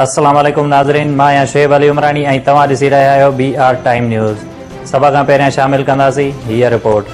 السلام عليڪم ناظرين مان آهيان شعيب علي عمراڻي ۽ توهان ڏسي رهيا آهيو بي آر ٽائيم نيوز سڀ کان پهريان شامل ڪنداسين هيء رپورٽ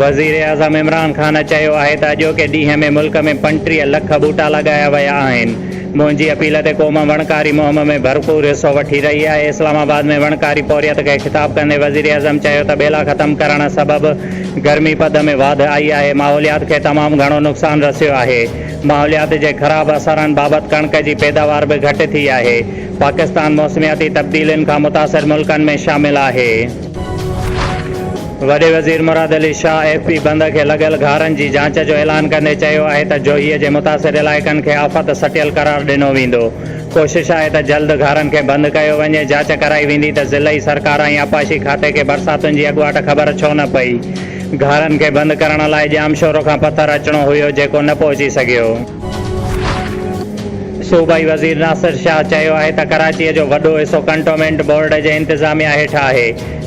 وزيراعظم عمران خان چيو آهي ته اڄوڪي ڏينهن ۾ ملڪ ۾ پنٽيهه لک ٻوٽا لڳايا ويا آهن منهنجي اپيل تي قوم وڻڪاري مهم ۾ ڀرپور حصو وٺي رهي آهي، اسلام آباد ۾ وڻڪاري پورهيت کي خطاب ڪندي وزيراعظم چيو ته ٻيلا ختم ڪرڻ سبب گرمي پد ۾ واڌ آئي آهي، ماحوليات کي تمام گهڻو نقصان رسيو آهي، ماحوليات جي خراب اثرن بابت ڪڻڪ جي پيداوار به گهٽ ٿي آهي، پاڪستان موسمياتي تبديلين کان متاثر ملڪن ۾ شامل آهي. وڏي وزير مراد علي شاهه ايف پي بند کي لڳل گهارن جي جاچ جو اعلان ڪندي چيو آهي ته جوهي جي متاثر علائقن کي آفت سٽيل قرار ڏنو ويندو، ڪوشش آهي ته جلد گهارن کي بند ڪيو وڃي، جاچ ڪرائي ويندي ته ضلعي سرڪار ۽ آبپاشي کاتي کي برساتن جي اڳواٽ خبر ڇو نه پئي، گهارن کي بند ڪرڻ لاء ڄامشورو کان پٿر اچڻو هيو جيڪو نه پهچي سگهيو. صوبائي وزير ناصر شاهه چيو آهي ته ڪراچي جو وڏو حصو ڪنٽومينٽ بورڊ جي انتظاميا هيٺ آهي.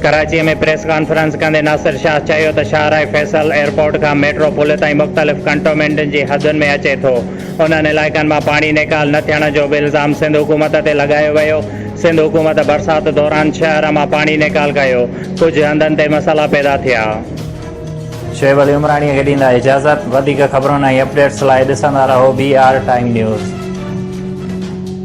ڪراچي ۾ پريس ڪانفرنس ڪندي ناصر شاهه چيو ته شاهراهه فيصل ايئرپورٽ کان ميٽرو پل تائين مختلف ڪنٽومينٽن جي حدن ۾ اچي ٿو، انهن علائقن مان پاڻي نيڪال نه ٿيڻ جو به الزام سنڌ حڪومت تي لڳايو ويو، سنڌ حڪومت برسات دوران شهر مان پاڻي نيڪال ڪيو، ڪجهه هنڌن تي مسئلا پيدا ٿيا. شعيب علي عمراڻيء کي ڏيندا اجازت. وڌيڪ خبرن ۽ اپڊيٽس لاء ڏسندا رهو بي آر ٽائيم نيوز.